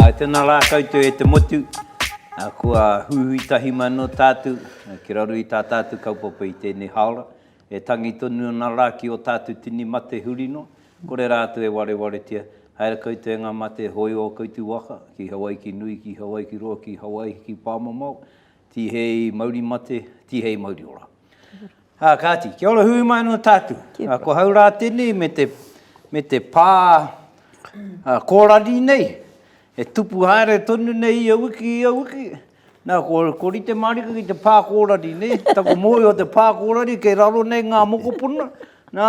Āe tēnā rā koutou e te motu, kua huhui tahi mai anō tātou ki raro i tā tātou kaupapa i tēnei hāora, e tangi tonu ana rā ki ō tātou tini mate huri noa, kore rātou e warewaretia, haere koutou e ngā mate hōio o koutou waka, ki Hawaiki nui, ki Hawaiki roa, ki Hawaiki pāmamao, Tihei mauri mate, tihei mauri ora. Ha, kāti, kia ora hui mai anō tātou. Ha, ko hau rā tēnei me te, me te pā ha, kōrari nei, e tupu haere tonu nei ia wiki, ia wiki. Nā, ko, ko rite mārika ki te pā kōrari nei, taku mōi o te pā kōrari, kei raro nei ngā mokopuna, nā,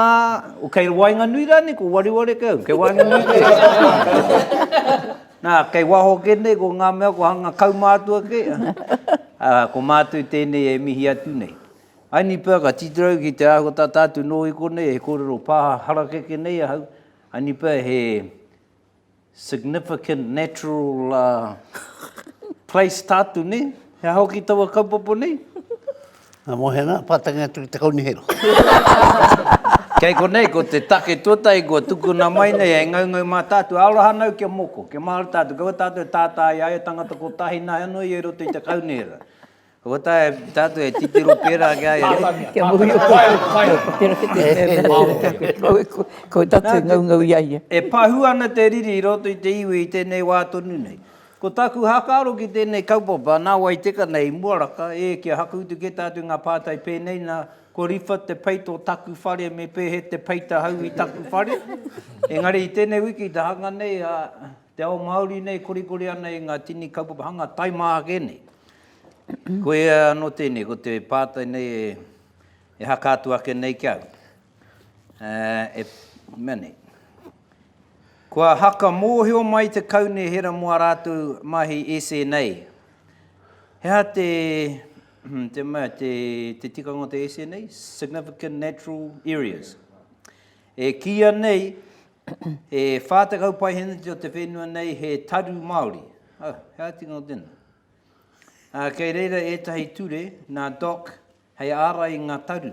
o kei waenganui rānei, ko wareware kau, kei waenganui kau. Nā, kei waho kē nei ko ngā mea kua hanga kaumātua kē, ā, ko mātou tēnei e mihi atu nei. Aini pea ka titiro ki te āhua tata atu nō i konei he kōrero pā harakeke nei ahau, aini pea he significant natural place tātou nei, he aha hoki taua kaupapa nei? Ngā mōhena, pātai ngai atu ki te kaunihera. Kei konei, ko te take tuatahi kua tukuna mai nei, hei ngaungau mā tātou, aroha anau kia moko, kia mahara tātou, kaua tātou e tātā i a ia tangata kotahi nāi anō ia i roto i te kaunihera. Kua taea e tātou e titiro pērā ki a ia nei. Kia muhi ō koutou, kia ō koutou ki te mea mea ki a koe, kua ue koe, kua tātou e ngaungau i a ia. E pahū ana te riri i roto i te iwi i tēnei wā tonu nei. Ko tāku hākaro ki tēnei kaupapa, nā wai teka nei i mua raka, ē, kia hakuutu kē tā atu ngā pātai pēnei, nā, ko Riwha te peita o taku whare me Pēhe te peita hau i taku whare? Engari i tēnei wiki i te hanga nei a te ao Māori nei korikori ana i ngā tini kaupapa hanga tae mā ake nei. Koia anō tēnei, ko te pātai nei e haka atu ake nei ki au, e, mea nei, Kua haka mōhio mai te kaunihera mō ā rātou mahi SNA. He aha te, te mea, te, te tikanga o te SNA? Significant Natural Areas. E kīia nei, he 40 paeheneti o te whenua nei he taru Māori. Oh, he aha tikanga o tēnā? Uh, kei reira ētahi ture nā Doc hei ārai i ngā taru.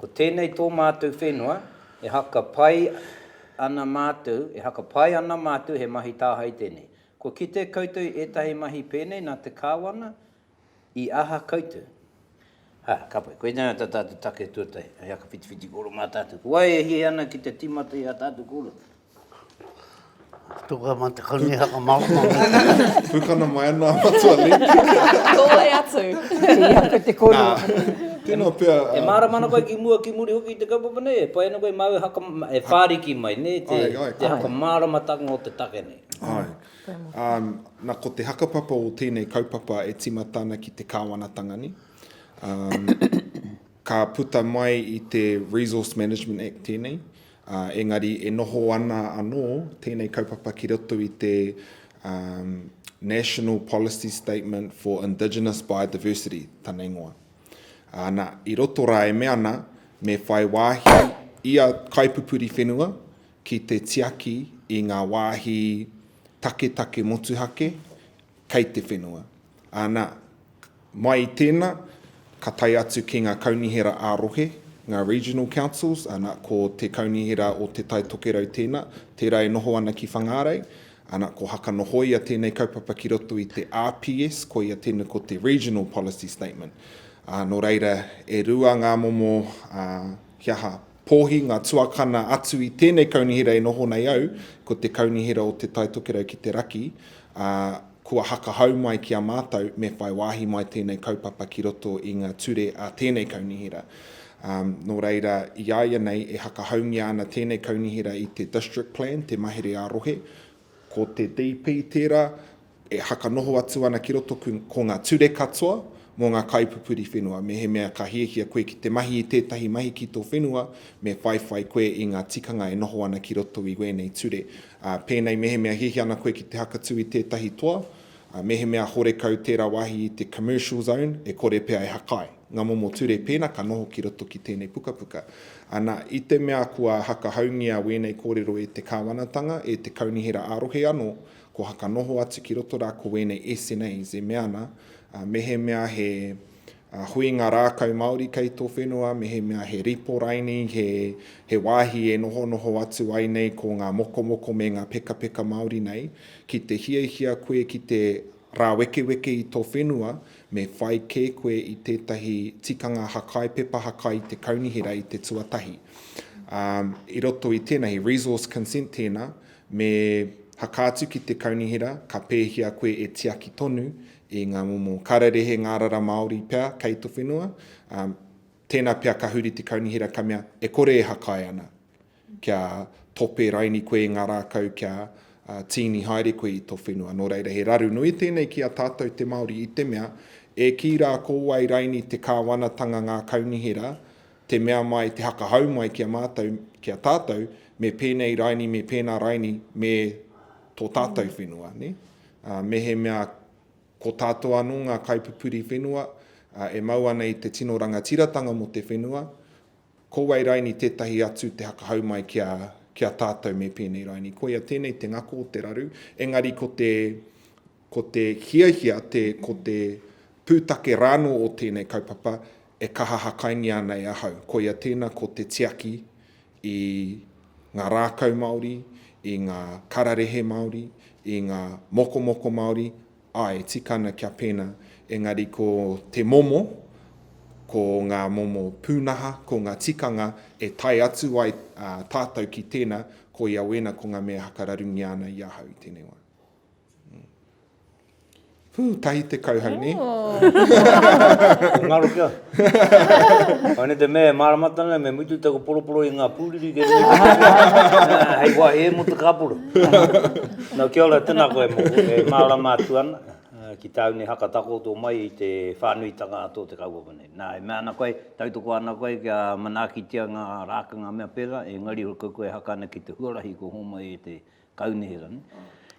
Ko tēnei tō mātou whenua, e haka pai ana mātou, e haka pai ana mātou he mahi tāhae tēnei. Kua kitea koutou i ētahi mahi pēnei nā te Kāwana, i aha koutou? Ā, ka pai, koinei ā tā tātou take tuatahi, hei haka whitiwhiti kōrero mā tātou. Ko wai e hiahia ana ki te tīmata i ā tātou kōrero? Tuku ama te koni haka marama. Pukana mai ana matua li. Kōe atu. Tīa pe te koni. Tino pia. E māra mana koe ki mua ki muri hoki i te kaupapa nei, e pai ana koe māu e haka, e whāriki mai, nē, te, ai, ai, te haka māramatanga o te take nei. Ai. Um, na ko te hakapapa o tēnei kaupapa e timata ana ki te kāwanatanga ni. Um, ka puta mai i te Resource Management Act tēnei, ā, engari e noho ana anō tēnei kaupapa ki roto i te um, National Policy Statement for Indigenous Biodiversity, tana ingoa. Ā, nā, i roto rā e mea ana, me whai wāhi ia kaipupuri whenua ki te tiaki i ngā wāhi taketake motuhake kei te whenua. Ā, nā, Mai i tēnā, ka tae atu ki ngā kaunihera ā-rohe, ngā Regional Councils, ana, ko te Kaunihera o Te Tai Tokerau tēnā, tērā e noho ana ki Whangārei, ana, ko Hakanohoia tēnei kaupapa ki roto i te RPS, koia tēnei ko te Regional Policy Statement. Ā, nō reira, e rua ngā momo, ā, kia ha, Pōhi ngā tuakana atu i tēnei kaunihera e noho nei au, ko te kaunihera o Te Tai Tokerau ki te Raki, ā, kua hakahau mai ki a mātou me whai wāhi mai tēnei kaupapa ki roto i ngā ture a tēnei kaunihera. Ā, nō reira, i a ia nei e hakahaungia ana tēnei kaunihera i te District Plan, te mahere ā-rohe, Ko te DP tērā e whakanoho atu ana ki roto ko ngā ture katoa mō ngā kaipupuri whenua. Mehemea ka hiahia koe ki te mahi i tētahi mahi ki tō whenua, me whaiwhai koe i ngā tikanga e noho ana ki roto i wēnei ture. Pēnei mehemea hiahia ana koe ki te hakatū i tētahi toa, Ā, mehemea horekau tērā wāhi i te Commercial Zone, e kore pea e hakai. Ngā momo ture pēnā ka noho ki roto ki tēnei pukapuka. Ana, i te mea kua hakahaungia wēnei kōrero e te Kāwanatanga, e te Kaunihera ā-Rohe anō, kua haka noho atu ki roto rā ko wēnei SNAs e mea ana, ā, mehemea he. ā, huinga rākau Māori kei tō whenua, mehemea he ripo raini, he, he wāhi e nohonoho atu ai nei ko ngā mokomoko me ngā pekapeka Māori nei, ki te hiahia koe ki te rāwekeweke i tō whenua, me whai kē koe i tētahi tikanga hakai, pepa hakai i te kaunihera i te tuatahi. Ā, i roto i tēnā, he resource consent tēnā, me hakā atu ki te kaunihera, ka pēhia koe e tiaki tonu i ngā momo kararehe ngārara Māori pea kei te whenua, ā, tēnā pea ka huri te kaunihera ka mea e kore e hakae ana kia tope raini koe i ngā rākau kia tīni haere koe i tō whenua. Nō reira he raru nui tēnei ki a tātou te Māori i te mea e kī rā ko wai raini te kāwanatanga ngā kaunihera te mea mai, te hakahau mai ki a mātou, ki a tātou me pēnei raini, me pēnā raini me tō tātou whenua, nē? Mehemea ko tātou anō ngā kaipupuri whenua e mau ana i te tino rangatiratanga mō te whenua, ko wai raini tētahi atu te hakahau mai ki a, ki a tātou me pēnei raini. Koia tēnei te ngako o te raru, engari ko te, ko te hiahia, te, ko te pūtake rānō o tēnei kaupapa e kaha hakaingia ana e ahau. Koia tēnā ko te tiaki i ngā rākau Māori, i ngā kararehe Māori, i ngā mokomoko Māori, āe, tika ana kia pēnā. Engari ko te momo, ko ngā momo pūnaha, ko ngā tikanga e tae atu ai tātou ki tēnā, koia wēnā ko ngā mea hakararungia ana i ahau i tēnei wā. Whū, tahi te kauhau ne? He ngaro kia. Koe ne te mea e mārama tana me mutu taku poroporo i ngā pūriri kei runga i te kāpura. Hei wāhi e mō te kāpura. Nō kia ora, tēnā koe mō koe. E mārama atu ana ki tāu nei haka takoto mai i te whānuitanga a tō te kaupapa nei. Nā, e mea ana koe, tautoko ana koe kia manaakitia ngā rākanga mea pērā, engari koe e haka ana ki te huarahi kua hōmai e te Kau nei rani.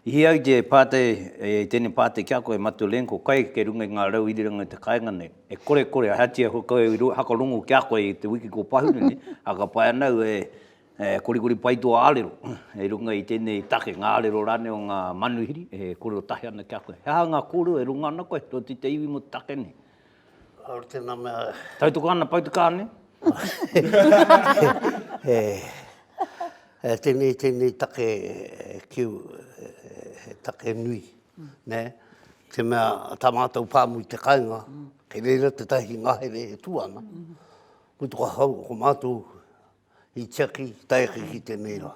I hea ai te pātai, e tēnei pātai ki a koe, Matu Len, ko kai kei runga i ngā rau irirangi o te kāinga nei? E kore, kore, ahatia ko koe i hakarongo ki a koe i te wiki kua pahuri nei, ā, ka pai ana au e korikori pai tō ārero i runga i tēnei take, ngā ārero rānei o ngā manuhiri e kōrero tahi ana ki a koe. He aha ngā kōrero e runga ana koe, tōti te iwi mō te take nei? Kāore tēnā mea. Tautoko ana pau te kāne. e, e, tēnei, tēnei take ki e, take nui, mm. ne? Te mea, tā mātou pāmu i te kainga, mm. kei reira te tahi ngahere e tu ana. Mm. Mutu ka hau, ko mātou i tiaki, taiaki ki tēnei rā.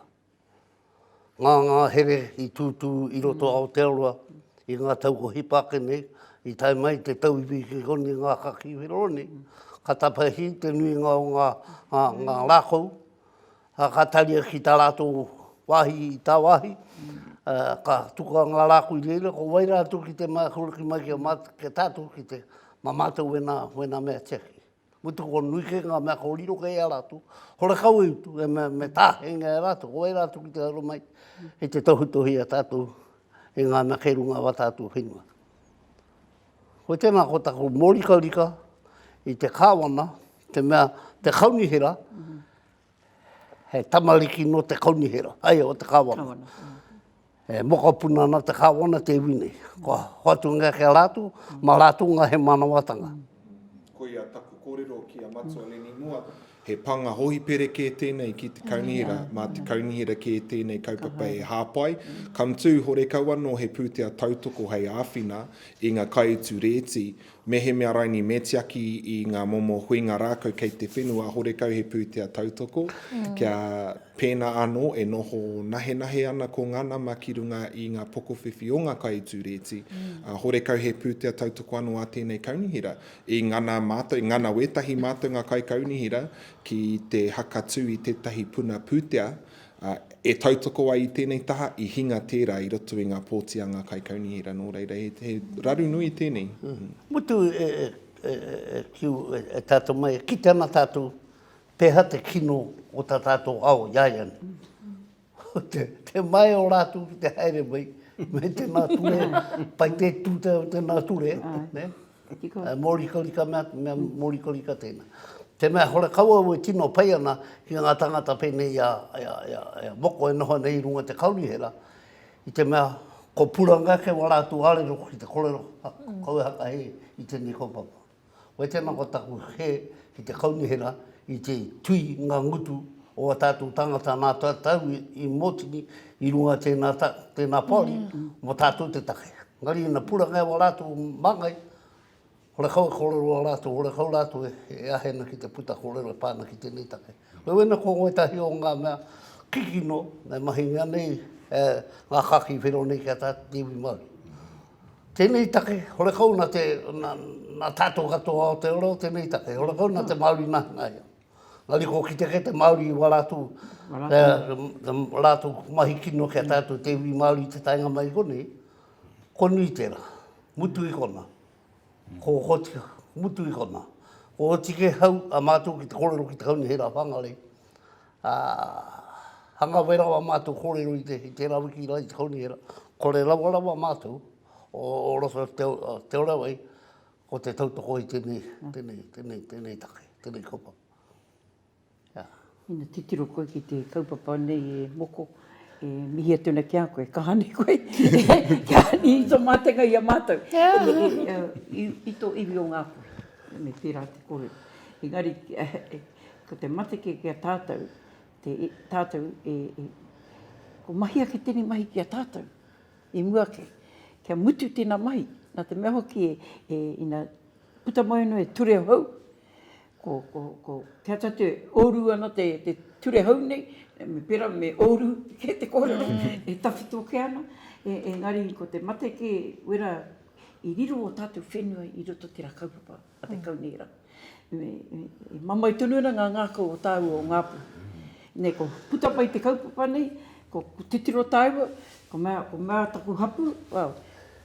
ngā ngāhere i tūtū i roto mm. Aotearoa i ngā tau ko hipake nei, i tae mai te tau i wiki koni ngā kaki wero nei, mm. ka tapahi te nui ngā o ngā, ngā, mm. ngā rākou, a ka taria ki tā rātō wāhi i tā wāhi, mm. a, ka tuka ngā rākou i reira, ko wai rātou ki te mākura ki mai ki a mātou, ki a tātou ki te, mā mātou wena, wena mea tiaki. Ko te kua nui kei ngā mea kua riro kei a rātou, horekau e utu, e me, me tāhengia e rātou, ko wai rātou ki te aro mai, i te tohutohi a tātou, i ngā mea kei runga wā tātou whenua. Ko tēnā ko taku mōrikarika i te kāwana, te mea, te kaunihera, mm -hmm He tamariki nō te kaunihera, ai o te kāwana. Kāwana, mm. E mokopuna ana te kāwana te iwi nei. Kua hoatungia ki a rātou, mā rātou ngā he mānawatanga. Ko ia taku kōrero ki a Matua Leni Moa, he pānga hōhipere kē tēnei ki te kaunihera, mā te kaunihera kē tēnei kaupapa e hāpai. Come too, horekau anō he pūtea tautoko hei āwhina i ngā kaiutu rēti Mehemea raini me tiaki i ngā momo huinga rākau kei te whenua, horekau he pūtea tautoko, kia pēnā anō e noho nahenahe ana ko ngā nama ki runga i ngā pokowhiwhi o ngā kai i tū rēti, ā, horekau he pūtea tautoko anō a tēnei kaunihera. I ngana mātou, i ngana wētahi mātou ngā kaikaunihera ki te hakatū i tētahi puna pūtea, e tautoko ai i tēnei taha, i hinga tērā i roto i ngā pōtianga kaikaunihera, nō reira, he, he raru nui tēnei. Mm. Mutu e, e, e, e, kiu, e, e tātou mai, e kite ana tātou, pēhā te kino o tā tātou ao, i ai ana. Mm. te, te mai o rātou ki te haere mai, me tēnā ture, pai te tūtau tēnā ture, ne? Ka tika. E mōrikarika mea, mea mōrikarika tēnā. Te mea hore kau au e tino pai ana ki ngā tāngata pēnei i a, i a, i a, i a Moko e noho ana i runga te kaunihera, i te mea ko puranga ake wā rātou arero ki te korero a kau e hakahe i tēnei kaupapa. Koe tēnā ko taku he ki te kaunihera i te tui ngā ngutu o a tātou tāngata nā tātou i mōtini i runga tēnā, tēnā poari mō tātou te take. Engari ina puranga e wā rātou māngai, horekau e kōrero a rātou, horekau rātou e āhena ki te puta kōrero e pā ana ki tēnei take. Wewena ko ngoi tahi o ngā mea kikino e mahingia nei e ngā kāki whero nei ki a tātou te iwi Māori. Tēnei take, horekau nā te, nā, nā tātou katoa Aotearoa o tēnei take, horekau nā te Māori nahanaia. Engari ko kite kē te Māori i wā rātou, rātou mahi kino kia taea atu te iwi Māori te taenga mai i konei, ko nui tērā, mutu i konā, ko Ōtika, mutu i konā. Ko Ōtikehau a mātou ki te kōrero ki te Kaunihera Whangarei, ā, hanga wera wā mātou kōrero i tērā wiki rā i te Kaunihera, kore rawarawa mātou o roto o Te Orawai, Ko te tautoko i tēnei, tēnei, tēnei, tēnei take, tēnei kaupapa. Ā. Ina titiro koe ki te kaupapa nei e Moko, e mihi atu ana ki a koe, kaha nei koe, kia ani i tō mātenga i a mātou, i, i, i tō iwi o Ngāpuhi. Me pērā te kōrero. Engari, ko te mate kē ki a tātou, te, tātou e, e, ko mahia ki tēnei mahi ki a tātou. I mua ake, kia mutu tēnā mahi, nā te mea hoki e, ina puta mai anō e ture hou, ko, ko, ko, kia ta te oru ana te, te ture hou nei, me pera me oru ke te kōrero, e tawhito ke ana, e, engari ko te mate ke wera i riro o tātou whenua i roto te rā kaupapa. a te kaunihera. I mamai tonu ana ngā ngākau o tāua o Ngāpū. Nei, ko puta mai te kaupapa nei, ko titiro tāua, ko mea, ko mea taku hapū, well,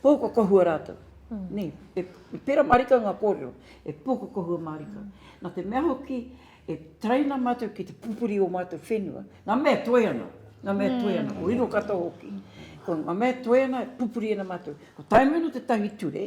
pōkokohua rātou. Nei, e pērā mārika ngā kōrero, e pōkokohua mārika. Nā te mea hoki, e taraina mātou ki te pupuri o mātou whenua. Ngā mea e toe ana, ngā mea e toe ana, ko riro katoa hoki. Ko ngā mea e toe ana, pupuri ana mātou. Ko Taimano tētahi ture,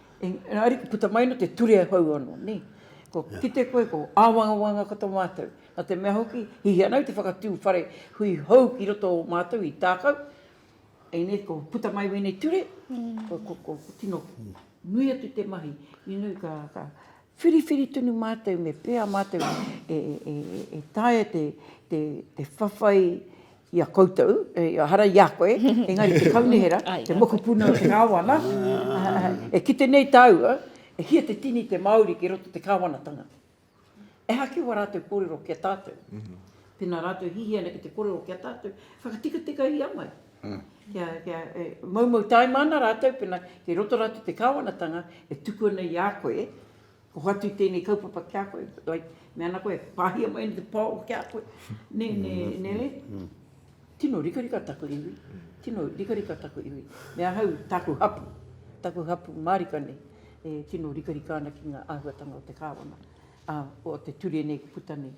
Engari ariki puta mai no te ture e hou ano nei. Ko kite koe ko awangawanga ko to matou. No te mea hoki hihi ana au te whakatu whare hui hou ki roto o matou i takau. Engari ko puta mai wenei ture ko tino nui atu te mahi. Whiriwhiri tonu mātou me pēa mātou e taea te whawhai i a koutou, ehara i a koe, engari te kaunihera, te mokopuna o te Kāwana, e kite nei tāua, e hia te tini te Māori ki roto te Kāwanatanga. Ehake wā rātou kōrero ki a tātou. Pēnā rātou hihia ana ki te kōrero ki a tātou, whakatikatikahi amai. Kia, kia, e, moumou taima ana rātou pena kei roto rātou te kāwanatanga e tuku ana i a koe, ko whatu i tēnei kaupapa ki a koe, like, me ana koe, pāhia mai ana te pao ki a koe, ne, ne, ne, ne, tino rikarika taku iwi, tino rikarika taku iwi, me ahau, tāku hapu, taku hapu mārika nei, e tino rikarika ana ki ngā āhuatanga o te kāwana, a, o te ture nei puta nei.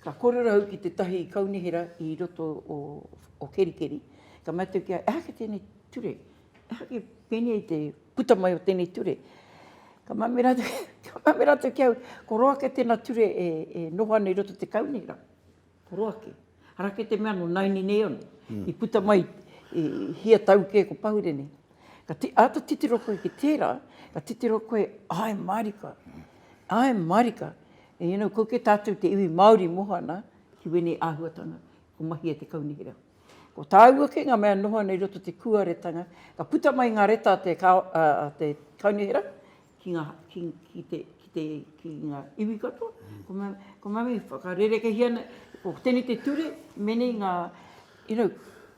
Ka korero au ki tetahi kaunihera i roto o Kerikeri, ka mea atu kia, ehake tenei ture, ehake penei te puta mai o tenei ture. Ka mea me ratou, ka mea me ratou ki au, ko roa ake tena ture e noho ana i roto i te kaunihera, ko roa ake. Ara ake te mea no naini nei ono, i puta mai i hia tau ke ko pahure nei. Ka ata titiro koe ki tera, ka titiro koe, ae marika, ae marika, E inu, ko ke tatu te iwi Maori mohana ki wenei ahuatanga, ko Mahia te Kaunihera. Ko taua ke nga mea noho ana i roto te kuaretanga, ka puta mai nga reta a te a te Kaunihera ki nga ki ki te ki te ki nga iwi katoa, ko nga ko nga mea whakarerekehia ana, ko tenei te ture menei nga you know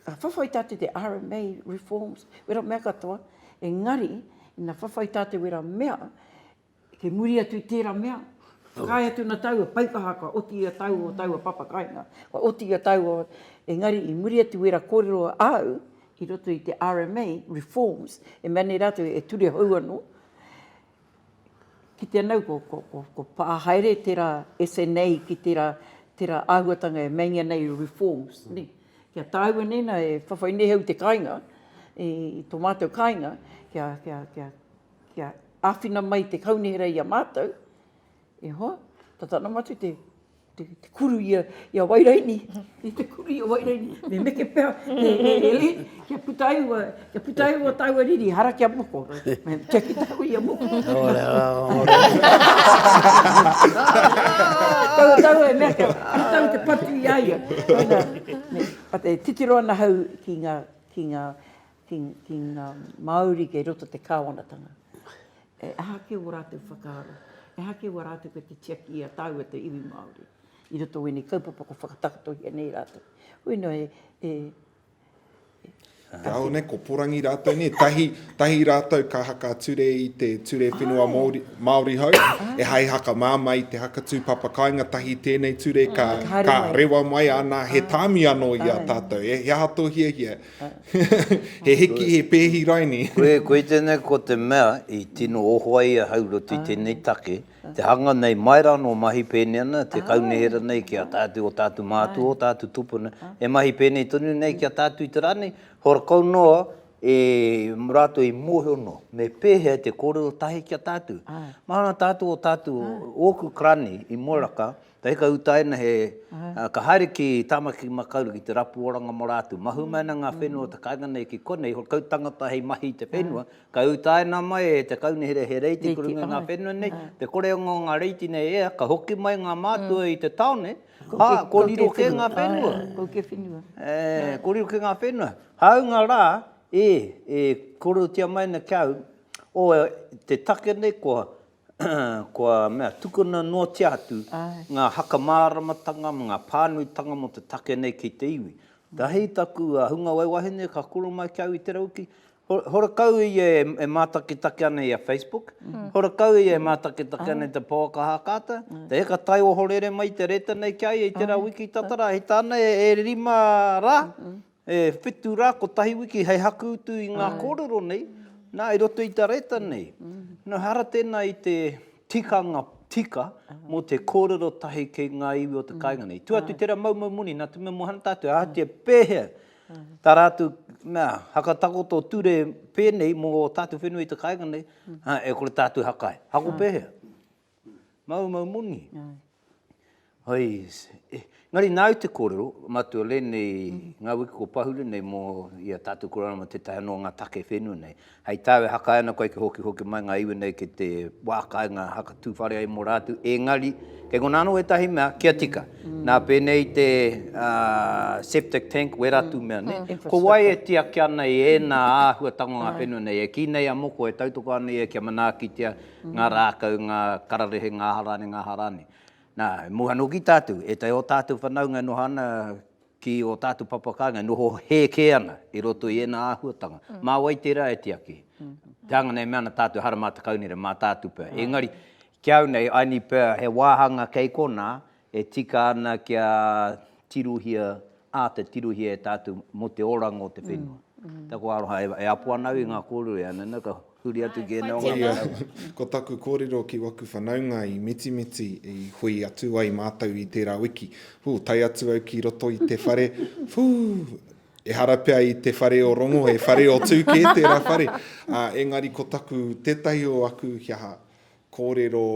ka whawhai tatu te RMA reforms, wera mea katoa, engari ina whawhai tatu wera mea, Kei muri atu i tērā mea, whakaae atu ana taua paikaha ka oti i a taua o taua papa kainga, ka oti i a taua, engari i muri atu wera kōrero āu i roto i te RMA, reforms, e mea nei rātou e ture hou anō, kitea nau ko, ko, ko, ko pā haere tērā SNA ki tērā, tērā āhuatanga e meinga nei reforms, nē. Kia tāua nēnā e whawhai nei au i te kāinga, i tō mātou kāinga, kia, kia, kia, kia āwhina mai te kaunihera i a mātou, e hoa, tata ana mātou te, te, te kuru i a, i a Wairaini, i te kuru i a Wairaini, me meke pea, e, e, e, e, kia puta ai ua, kia puta ai ua tāua riri, hara kia moko, me kia ki tāua i a moko. Ora, ora. Tāua, tāua e mea kia, ara tāua te patu i a ia. Tāna, me, a te titiro ana hau ki ngā, ki ngā, ki ngā Māori kei roto te kāwanatanga. E aha kē wō rātou whakaaro? E aha kē wō rātou kei te tiaki i a tāua te iwi Māori i roto o ēnei kaupapa kua whakatakotohia nei rātou? Hoi nō e, e, e. Kāore nei, ko porangi rātou nei, tahi, tahi rātou ka haka ture i te ture whenua oh. Māori, Māori hau, oh. e hai haka māmā i te haka tūpapa kāinga, tahi tēnei ture ka, oh. ka rewa mai ana, he tāmi anō i a tātou, e, he aha tō hiahia? He hiki, he pēhi raini. Koe tēnei ko te mea i tino oho ai a Haurotu i tēnei take, te hanga nei mai rā nō mahi pēnei ana te kaunihera nei ki a tātou, o tātou mātua, o tātou tupuna, e mahi pēnei tonu nei ki a tātou i te rā nei, horakau noa e rātou i mōhio noa me pēhea te kōrero tahi ki a tātou. Mahana tātou o tātou, ōku karani i Moeraka, Te hika utaina he, ka haere ki Tāmaki Makaurau ki te rapu oranga mō rātou. Mahue mai ana ngā whenua o te kāinga nei ki konei, he kau tangata hei mahi i te whenua, ka utaina mai e te kaunihera he reiti i kurunga i ngā whenua nei, te koreonga o ngā reiti nei e ea, ka hoki mai ngā mātua i te taone, ā, kōriro kē ngā whenua. Kau kē whenua. Ē, kōriro kē ngā whenua. Hāunga rā, ē, e kōrerotia mai ana ki a au, o te take nei kua kua mea, tukuna noatia atu ngā haka māramatanga me ngā pānuitanga mō te take nei ki te iwi. Ka hei taku hunga wai wahine ka kura mai ki au i te rauki, horakau ia e mātakitaki ana i a Facebook, horakau ia e mātakitaki ana i te pouaka hākata, te heka tai ohorere mai i te reta nei ki a ia i tērā wiki tata rā, hei tāna e rima rā, E whitu rā, kotahi wiki hei haku utu i ngā kōrero nei, nā, i roto i te reta nei. Nō hara tēnā i te tikanga tika mō te kōrero tahi ki ngā iwi o te kāinga nei. Tua atu tērā maumau moni, nā te mea mō Hunter atu, ahatia pēhea tā rātou, nā, hakatakoto ture pēnei mō ō tātou whenua i te kāinga nei, ā, e kore tātou haka ai. Hako pēhea? Maumau moni. Hai, engari nāu te kōrero, mātua rēnei, ngā wiki ko Pahure nei mō i a tātou korona mō tētahi anō o ngā take whenua nei. Hai tāu e hakae ana koe kia hokihoki mai ngā iwi nei ki te wā kāinga haka tū whare ai mō rātou, engari kei konā anō ētahi mea kia tika. Nā pēnei te septic tank wera tū mea nei, ko wai e tiaki ana i ēnā āhuatanga o ngā whenua nei e kī nei a moko e tautoko ana ia kia manaakitia, ngā rākau, ngā kararehe, ngā aha rānei, ngā aha rānei. Nā, e moe anō ki tātou, ētahi o tātou whanaunga e noho ana ki ō tātou papa kāinga, e noho hē kē ana i roto i ēnā āhuatanga. Mā wai tērā e tiaki? Te hanga nei e mea ana tātou, ehara mā te kaunere, mā tātou pea. Engari, ki au nei, I need pea he wāhanga kei konā, E tika ana kia tirohia, āta tirohia e tātou mō te oranga o te whenua. Taku aroha e apo ana au i ngā kōrero e ana nei, ka huri atu ki ēnei o ngā manawa. Ko taku kōrero ki waku whanaunga i Mitimiti i hui atu ai mātou i tērā wiki. Hū, tae atu au ki roto i te whare, hū, ehara pea i te whare o rongo, he whare o tū kē tērā whare. Engari ko taku, tētahi o aku, he aha, kōrero,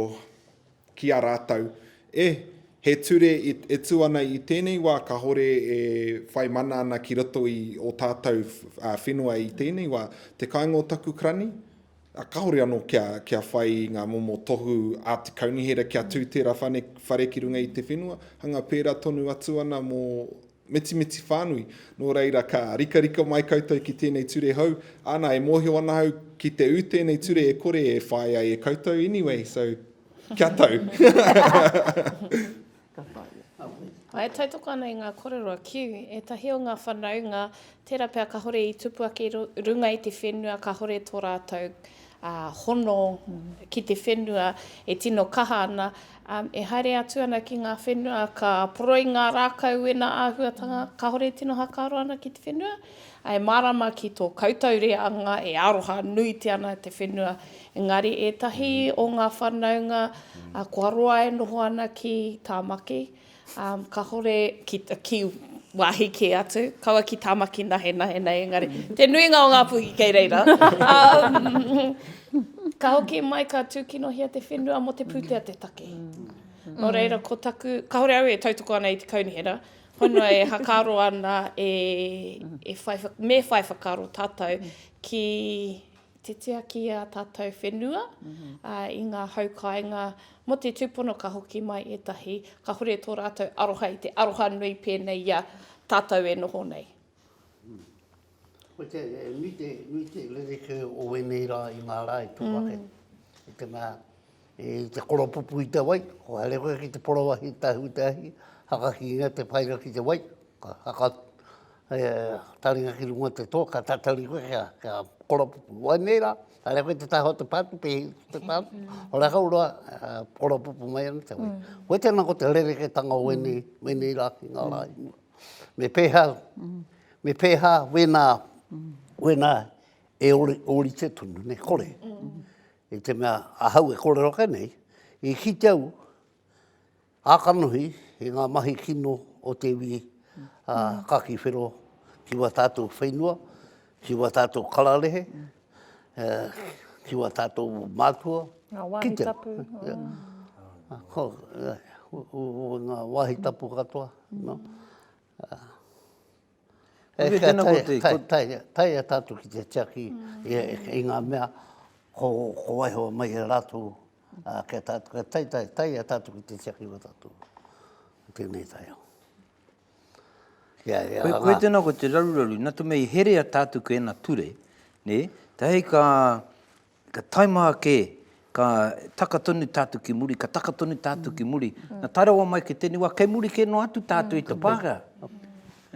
ki a rātou, E, he ture e tū ana i tēnei wā kāore e whai mana ana ki roto i ō tātou whenua i tēnei wā, te kāinga o taku karani, ā, kāore anō kia whai i ngā momo tohu a te kaunihera kia tū tērā whare ki runga i te whenua, hanga pērā tonu atu ana mō Mitimiti whānui, nō reira ka rikarika mai koutou ki tēnei ture hou, ana e mōhio ana au ki te ū tēnei ture e kore e whāi ai e koutou, anyway, so kia tau. Ka whāia. E tautoko ana i ngā korero a Kew, ētahi o ngā whanaunga, tērā pea kahore i tupu ake i runga i te whenua kahore tō rātou hono ki te whenua e tino kaha ana, E haere atu ana ki ngā whenua ka poroi ngā rākau wena āhuatanga kāore tino hakaaro ana ki te whenua, ā, e mārama ki tō koutou reanga e aroha nuitia ana te whenua, engari ētahi o ngā whanaunga kua roa e noho ana ki Tāmaki, Um, kahore ki, ki wāhi kē atu, kaua ki Tāmaki nahenahe nei, engari te nuinga o ngā puhi kei reira. Um, ka hoki mai, ka tūkinohia te whenua mo te pūtea te take. No reira, ko taku, kahore au e tautoko ana i te kaunihera, honua e hakaro ana e, e whai, me whai whakaro tātou ki te tiaki i ā tātou whenua, ā, i ngā hau kāinga mō te tūpono ka hoki mai ētahi, kāhore tō rātou aroha i te aroha nui pēnei i a tātou e noho nei. Koia e nui te, nui te rerekē o ēnei rā i ngā rā i tō ake, i te mea, I te koropupu i te wai, kua haere koe ki te porowahi tahi me te ahi, hakakingia te painga ki te wai, haka taringa ki runga te toa, ka tatari koe kia koropupu. Wai nei rā, haere koe te taha o te pātu, pēhi ki te pātu, ora kau roa, koropupu mai ana te wai. Koe tēnā ko te rerekētanga o wēnei rā ki ngā rā i mua. Me pēhā, me pēhā wēnā, wēnā e ori, orite tonu, ne kore. I te mea ahau e kōrero ake nei, i kite au ā-kanohi i ngā mahi kino o te iwi a Kaki Whero ki wā tātou whenua, ki wā tātou kararehe, ki wā tātou mātua. Ngā wāhi tapu. Ngā wāhi tapu katoa. Hei tēnā ko te... Taia tātou ki te tiaki i ngā mea ko waiho mai e rātou kia tātou. Taia tātou ki te tiaki o tātou. Tēnei taia. Hei tēnā ko te raruraru, nā te mei herea tātou ki ēnā ture, nē? Te hei ka Ka taima ake, ka taka tonu tātou ki muri, ka taka tonu tātou ki muri. Na tae rawa mai ki tēnei wā, kei muri kē noa atu tātou i te Pākehā.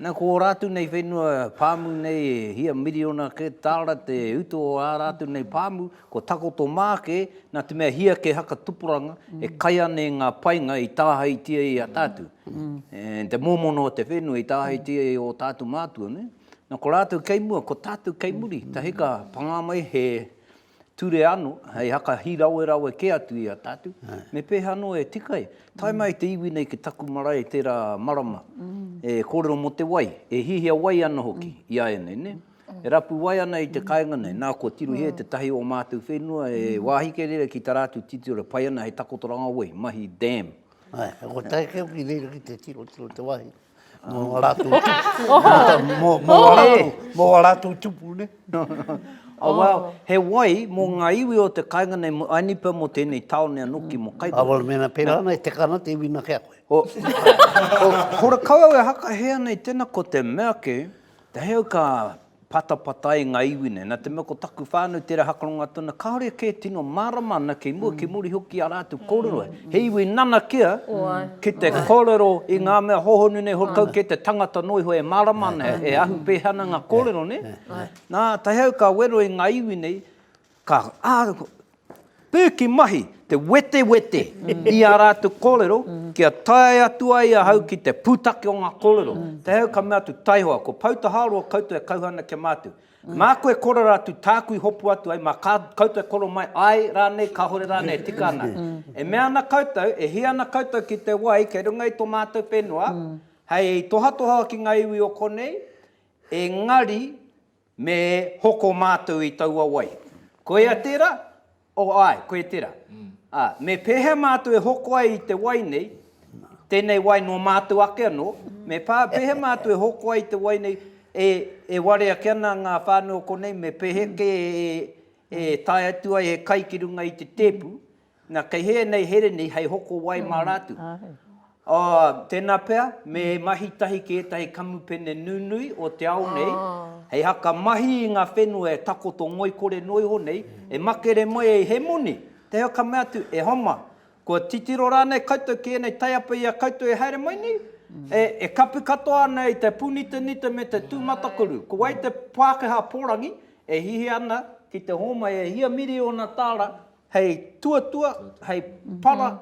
Na, ko ō rātou nei whenua pāmu nei, e hia miriona kē tāra te utu o ā rātou nei pāmu, kua takoto mā kē, nā te mea hia kē haka tupuranga, e kai ana i ngā painga i tāhaitia i a tātou. The mōmona o te whenua i tāhaitia i ō tātou mātua, nē. Na ko ratou kei mua, ko tatou kei muri, tahi ka panga mai he ture ano, hei haka hirawerawe ke atu i a tatou, me peha ano e tika ai, tae mai te iwi nei ki taku marae tera marama, e korero mo te wai, e hihia wai ana hoki i a enei, ne? E rapu wai ana i te kainga nei, na ko Tiruhē te tahi o matou whenua e wahi kei reira ki tara atu titiro, pai ana hei takotoranga wai, mahi dam. Ae, ko Taekeo ki reira ki te tiro, tiro te wahi. Mō ngā rātou tupu. Mō ngā rātou tupu, ne? Oh, wow. He wai mō ngā iwi o te kainga nei, mō Ainipa, mō tēnei tāone anō ki mō Kaipara. Āwera, mēnā pērā ana, e teka ana te iwi nā kē a koe. Ko Rakau au e hakahea nei tēnā ko te mea kē, te heo ka patapatai nga iwi nei. Na te mea ko taku whanau tera hakarongo atu ana, kaore ke tino marama ana kei mua kei muri hoki i a ratou korero he iwi nanakia ki te korero i nga mea hohonu nei hore kau kei te tangata no iho e marama ana e ahu peha ana nga korero ne. Na tahi au ka wero i nga iwi nei, Ka piki mahi te wetewete i ā rātou kōrero kia tae atu ai ahau ki te pūtake o ngā kōrero. Te hau ka mea atu, Taihoa, ko Poutaharoa koutou e kauhau ana kia mātu. Mā koe korero atu tāku i hopu atu ai, mā koutou e korero mai, āe rānei, kāore rānei e tika ana. E mea ana koutou, e hia ana koutou ki te wai kei runga i tō mātou whenua, hei tohatoha ki ngā iwi o konei, engari, Me hoko mātou i taua wai. Koia tera? Oh, ae, koe tera. Ah, me pehea mātou e hoko ai i te wai nei, tenei wai no mātou ake ano, me pa, pehea mātou e hoko ai i te wai nei, e, e ware ake ana nga whanau o konei, me pehe ke e, e tae atu ai he kai ki runga i te tepu, Na, kei hē nei here nei hei hoko wai mā rātou. Āe. Tēnā pea, me mahi tahi ki ētahi kamupene nunui o te ao nei, hei haka mahi i ngā whenua e takoto ngoikore noa iho nei, e makere mai ai he moni, tēhea ka mea atu, e homa, kua titiro rānei koutou ki ēnei taiapa i a koutou e haere mai nei? E, e kapi katoa ana i te pūnitanita me te tūmatakuru. Ko wai te Pākehā pōrangi e hihi ana ki te hōmai e hia miriona tāra Hei tuatua, hei para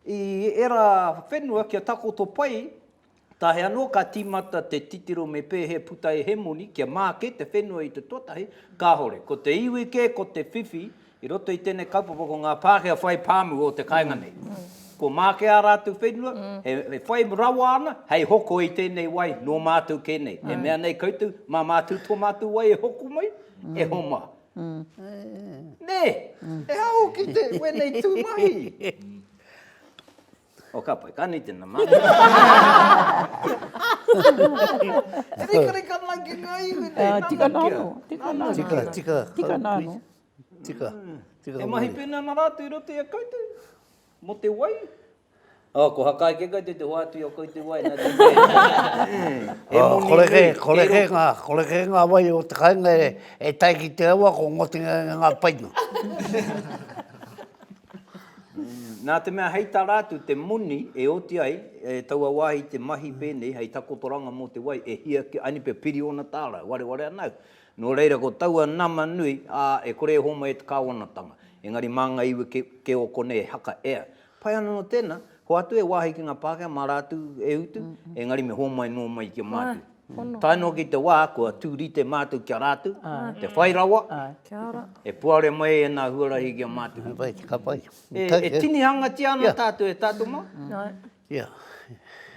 i era whenua kia takoto pai, tae ano ka timata te titiro me pehe puta e hemoni kia make te whenua i te tuatahi, kahore. Ko te iwi ke ko te whiwhi i roto i tenei kaupapa ko nga Pakea whai pamu o te kainga nei. Ko make a ratou whenua, e whai rawa ana hei hoko i tenei wai no matou ke nei. E mea nei koutou, ma matou to matou wai e hoko mai, e homa. Nē! He aho ki te wēnei tū mahi! O ka pai, ka nui tēnā mahi. E rikarika ana ki ngā iwi nei, nana kia. Tika nāno, tika nāno. Tika, tika. Tika nāno. Tika, tika. E mahi pēnei ana rātou i roto i a koutou, mō te wai. Oh, ko Hakai ke koutou te hoatu i o koutou wai na te wai. He moni nui, he roto. He kore ke nga, kore ke nga wai o te kainga e tai ki te awa ko ngoti nga nga nga paina. Na te mea hei ta ratu te moni e oti ai e taua wahi te mahi penei hei takotoranga mo te wai e hia ki ani pe piri ona tarau, wareware ana au. No reira ko taua nama nui, a, e kore e homai e te kawanatanga. Engari ma nga iwi ke o konei e haka, ea, Pai ana no tena, hoatu e wahi ki nga Pakea ma ratu e utu, engari me homai no mai ki a matu. Tae no ki te wa kua tu rite matu ki a ratu, te whai rawa, e puare mai ena huarahi ki a matu. E tinihangatia ana tatu e tatu ma.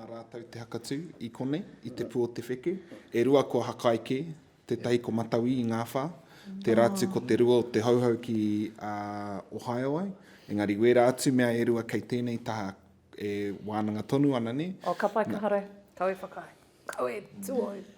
Nā rātou te hakatū i konei, i te pū o te wheke. E rua ko Hakaeke, tētahi ko Matauī i Ngāwhā, tērā atu ko te rua o Te Hauhau ki a Ohio ai, engari wērā atu mea e rua kei tēnei taha e wānanga tonu ana, nē? Oh, ka pai, ka haere. Kau e whakaae. Kau e tuohu.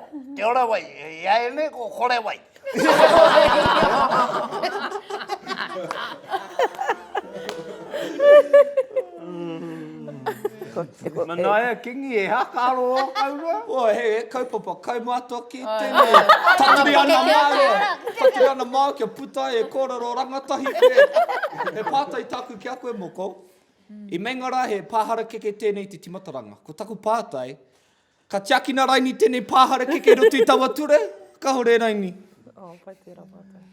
Te ora wai, i a e nei ko kore wai. Manaia Kingi, e ha ka aro o kau roa? O, he kaupapa, kai mātua ki tēnei. Taturi ana māua, taturi ana māua kia puta ai e kōrero rangatahi koe. He pātai tāku ki a koe moko, i meinga rā he pā harakeke tēnei te timataranga. Ko taku pātai, Ka tiakina raini tenei pahare keke i roto i taua ture? Kahore raini. Oh, pai tera matou.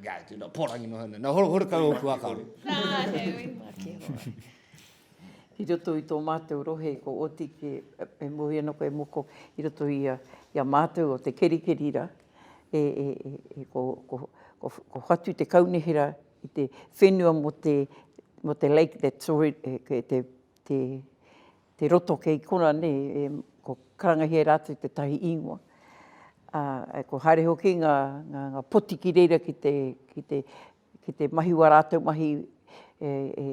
Ga tu na porangi no hana. Na horo horo ka oku aka. Na he ui. I roto i to matou rohe ko oti ke e mohi ana koe moko i roto i a i a matou o te kerikeri ra e e e ko ko ko ko hatu te kaunihera i te whenua mo te mo te lake that's already e ke te te, te roto kei kona nei, e, ko karangahia rātou te tahi īngoa. Ā, ko haere hoki ngā, ngā, ngā poti ki reira ki te, ki te, ki te mahi wā rātou mahi e, e,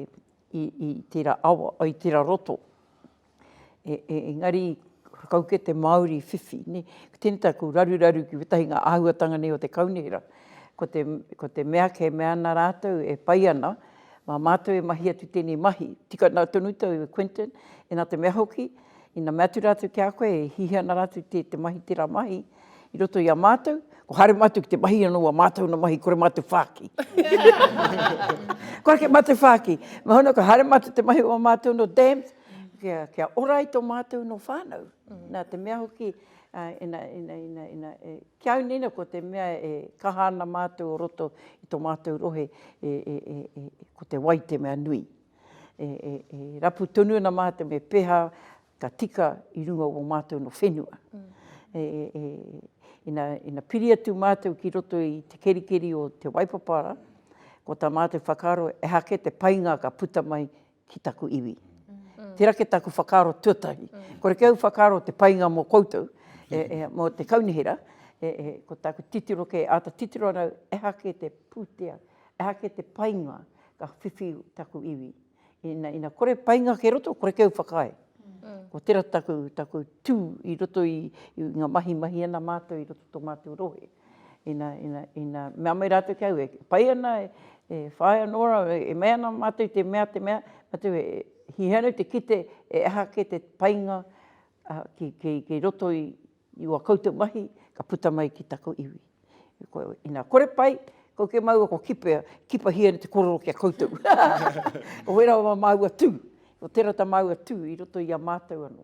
i, i tērā awa, o, i tērā roto. E, e, engari, kau kē te Māori whiwhi, nē. Ko tēnei taku raruraru ki ētahi ngā āhuatanga nei o te kaunihera, ko te, ko te mea kei mea ana rātou e pai ana, Mā mātou e mahi atu tēnei mahi. Tika noa tonu tou e Quinton, ina te mea hoki, ina mea atu rātou ki a koe e hihi ana rātou te te mahi tērā mahi i roto i a mātou, kua haere mātou ki te mahi anō a mātou na mahi kore mātou whāki. Kua rake mātou whāki. Noho ana kua haere mātou te mahi o a mātou no dams, kia kia ora ai to mātou no whānau. Na te mea hoki, Ā, ina, ina, ina, ina, e, ki au nina ko te mea e kaha ana mātou o roto i tō mātou rohe, e, e, e, e, ko te wai te mea nui. E, e, e rapu tonu ana mātou me pēhā ka tika i runga o mātou no whenua. E, e, e, ina, ina piri atu mātou ki roto i te kerikeri o Te Waipapara, ko tā mātou whakaaro, ehake te painga ka puta mai ki taku iwi. Tera ke taku whakaaro tuatahi. Kore ke au whakaaro te painga mo koutou, e, e, mo te kaunihera, e, e, ko taku titiro ke ata titiro anau, eha ke te putea, eha ke te painga ka whiwhi taku iwi. Ina, ina kore painga ke roto, kore ke au whakaae. Ko tera taku, taku tu i roto i, i nga mahi mahi ana matou i roto to matou rohe. Ina, ina, ina, mea mai rātou ki a au, e pai ana, e whāia anō rāua, e mea ana mātou i te mea, te mea, mātou e hihia ana te kite e aha kē te painga ki, ki, ki roto i ua koutou mahi ka puta mai ki taku iwi. Ina kore pai, kau kē māua kua kipea, kipahia ana te korero ki a koutou. Oira o māua tū, o tērā tā māua tū i roto i a mātou anō.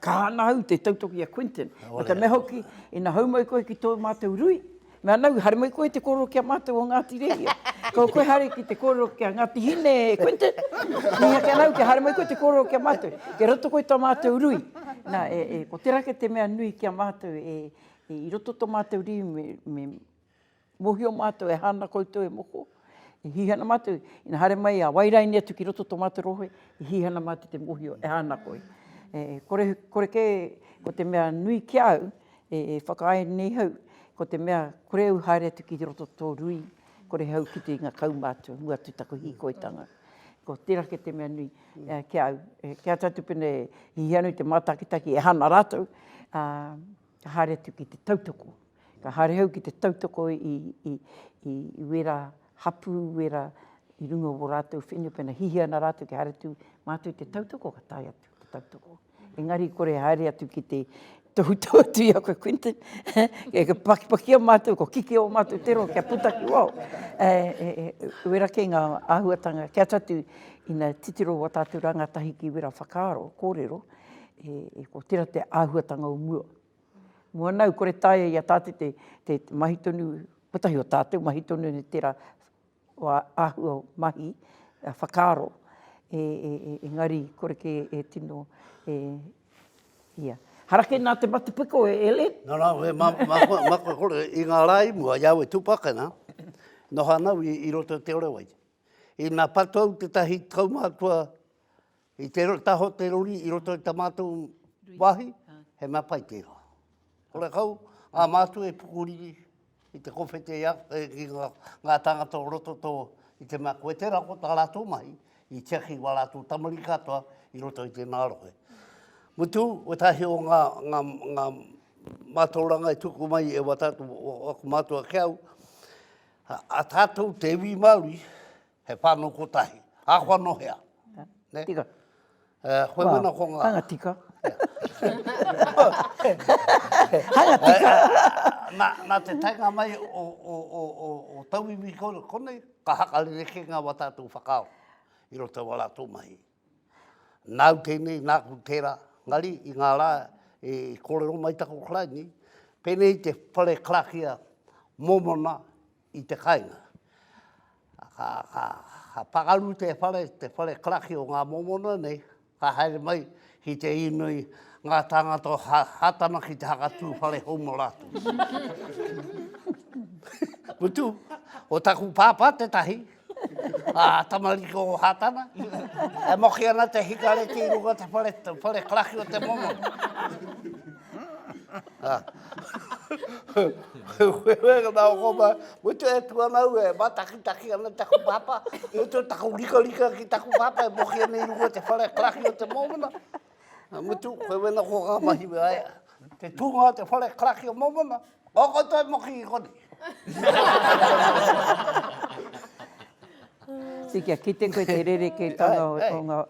Kaha ana au te tautoki i a Quinton. Me te mea hoki, ina hou mai koe ki tō mātou rui, me ana au, haere mai koe te kōrero ki a mātou o Ngāti Rehia. Ko koe haere ki te kōrero ki a Ngāti Hine, Quinton. Mihaki ana au kia haere mai koe te kōrero ki a mātou. Kei roto koe i tō mātou rui. Nā, ko te rā kei te mea nui ki a mātou, i roto tō mātou rui me, me. Mohio matou e hana koutou e moko, i hihana matou, ina haere mai a wairaini atu ki roto to matou rohe, i hihana matou te mohio e hana koi. E kore, kore ke ko te mea nui ki au, e whakaae nei hau, ko te mea kore au haere atu ki roto to rui, kore hau ki te inga kau matou, mua atu taku hikoitanga. Ko tera ke te mea nui ki au, kia atu pene hihano i te matakitaki e hana ratou, a. ka haere atu ki te tautoko, ka haere au ki te tautoko i, i, i, i wera hapū, wera i runga o wō rātou whenua, pēnā hihia ana rātou kia haere atu mātou i te tautoko, ka tae atu ki te tautoko. Engari i kore e haere atu ki te tohutohu atu i a koe Quinton, e ka pakipakia mātou, kua kikī ō mātou te roa kia puta ki waho. E, e, e, wera kē ngā āhuatanga, kē atu atu ina titiro wā tātou rāngatahi ki wera whakaaro, kōrero, e ko tera te ahuatanga o mua. Mua nau kore taia ia tate te te mahi tonu kotahi o tatou mahi tonu ni tera wa ahua o mahi a whakaro e e e engari kore ke e tino e ia. Hara ke na te matapiko e Ellen. No no we ma ma ma ko kore i nga ra i mua ia we tupakana no ha nau i roto te orewai. I na patou te tahi kaumatua I te taho te rori i roto i ta matou wahi, he mea pai tera. Kore kau, a matou e pukuriri i te kowhete ia, i nga tangata o roto to, i te mea koe tera ko ta ratou mahi, i tiaki wa ratou tamariki katoa i roto i tena rohe. Mutu, wetahi o nga, nga, nga matauranga e tuku mai e wa tatou, aku matua ke au, a tatou te iwi Maori, He whānau kotahi. Ākua nō hea? Nē? Tika. Koe mana ko ngā? Hanga tika. Hanga tika. Nā, nā te taenga mai o, o, o, o, o tauiwi konei, ka hakarerekē ngā wā tātou whakaaro i roto i wā rātou mahi. Nāu tēnei, nāku tērā, ngari i ngā rā i kōrero mai taku Karaini, pēnei i te whare karakia mōmona i te kainga. Ka, ka, ka pakaru te whare, te whare karakia o ngā mōmona nei, ka haere mai ki te inoi ngā tāngata o ha, Hātana ki te hakatū whare hou mō rātou. Mutu, ko taku pāpā tētahi, Aa tamariki o Hatana e moki ana te hikareti i runga te whare, te whare karaki o te momo. Weweka na o koma, mutu e tu ana ue, ma takitaki ana taku papa, mutu taku rikarika ki taku papa e moki ana i runga te whare karaki o te momona. Nā Mutu, koe wena ko ngā mahi me aia. Te tūnga o te whare karaki o Momona, o koutou e moki i koni. Tī kia kite koe te rerekētanga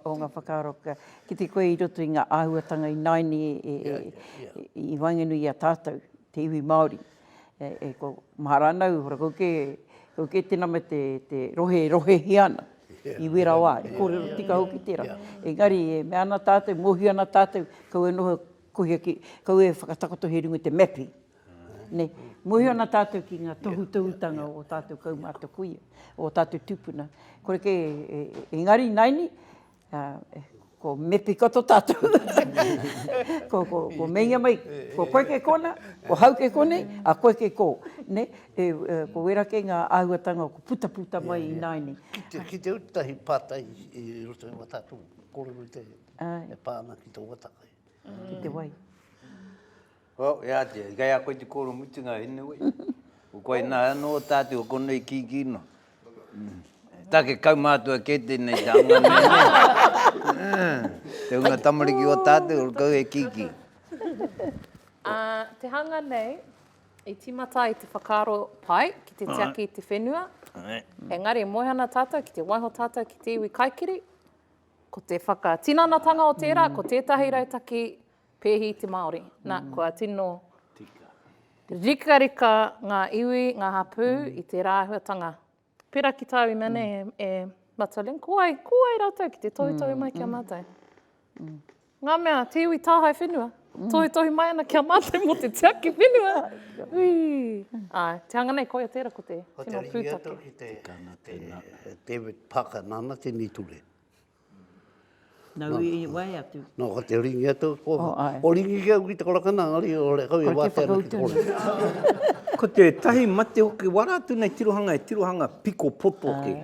o ngā whakaaro, kia kite koe i roto i ngā āhuatanga ināianei i waenganui i a tātou, te iwi Māori. e ko Maharana u hora koke koke tena me te te rohe rohe hia ana i wera wa i korero tika hoki tera engari e mea na tatu mohi ana tatu kau e noho kohi aki kau e whakatakoto he runga te mepi ne mohi ana tatu ki nga tohu tohu tanga o tatu kau mata kui o tatu tupuna kore ke engari naini. Ā, ko Mepikoto tātou. ko, ko, ko meinga mai, ko koe kei kōnā, ko hau kei konei, a koe kei kō. Nē? E, e, ko wērā kei ngā āhuatanga o putaputa mai yeah, yeah. ināianei. Ki te, ki te utahi pātai i roto i wā tātou kōrero i te, e pā ana ki te watakai. Ki te wai. Well, e ātea, i kei a koe te kōrero mutunga, anyway. Ko koe nā, anō tātou o konei kīkī nō. Take kaumātua kē tēnei te anga nei, nē. Te hunga tamariki o tātou, ora kau e kīkī. Ā, te hanga nei, i tīmata ai te whakaaro pai ki te tiaki i te whenua, engari e moe ana tātou ki te waiho tātou ki te iwi kaikiri, ko te whakatinanatanga o tērā, ko tētahi rautaki Pehi te Māori. Na, kua tino rikarika ngā iwi, ngā hapū i te rāhuatanga. Pera ki tāu ina nei e Mata Ling, ko wai, ko wai rātou ki te tohutohu mai ki a mātou? Ngā mea, te iwi tāhae whenua, tohutohu mai ana ki a mātou mō te tiaki whenua. Ui! Āe, te hanga nei, koia tērā ko te tino pūtake. Ko te ringi atu ki te David Parker nāna tēnei ture. Nau i wae atu. No ka te ringi atu ko. Oh ai. O ringi ki au ki te korakana ngari o le kau i wate ana ki te kore. Ko te tahi mate hoki wara atu nei tirohanga e tirohanga piko poto hoki.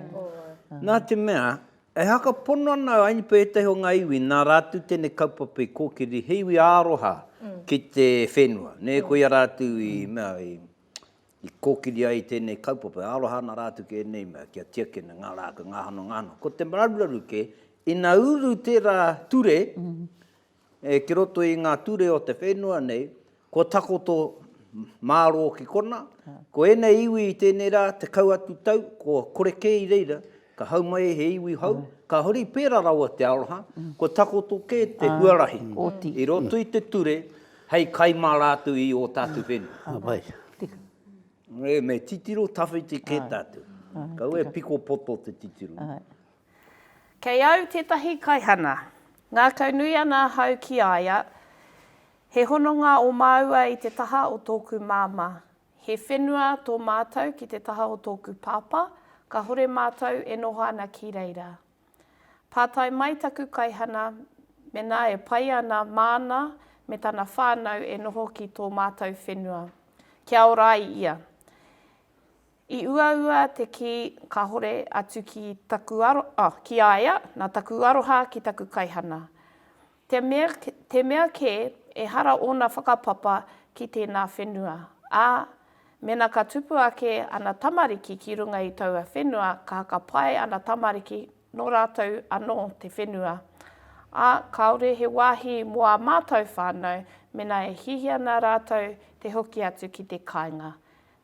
Na te mea e haka pono ana ai ni petahi o nga iwi na ratu tenei kaupapa i kokiri he iwi aroha ki te whenua ne koia ratu i mea i I kōkiri ai tēnei kaupapa, e aroha ana rātou ki ēnei mea, kia tiakina ngā rākau, ngā hano, ngā hano. Ko te mararuraru kē, ina uru tērā ture ki roto i ngā ture o te whenua nei, kua takoto mārō ki konā, ko ēnei iwi i tēnei rā, tekau atu tau, kua kore kē i reira, Ka hau mai he iwi hou, ka huri pērā rawa te aroha, kua takoto kē te huarahi i roto i te ture hei kai mā rātou i ō tātou whenua. Ē, me titiro tawhiti kē tātou. Kaua e piko poto te titiro. Kei au tētahi kaihana. Ngākaunui ana ahau ki a ia, He hononga ō māua i te taha o tōku māmā. He whenua tō mātou ki te taha o tōku pāpā, kāhore mātou e noho ana ki reira. Pātai mai taku kaihana mēnā e pai ana māna me tana whānau e noho ki tō mātou whenua. Kia ora ai ia. I uaua te kī kāhore atu ki taku aro, oh, ki a ia, nā taku aroha ki taku kaihana. Te mea, te mea kē, ehara ōna whakapapa ki tēnā whenua, ā, mēnā ka tupu ake ana tamariki ki runga i taua whenua, ka haka pae ana tamariki, nō rātou anō te whenua. Ā, kāore he wāhi mō ā mātou whānau, mēnā e hiahia ana rātou te hoki atu ki te kāinga.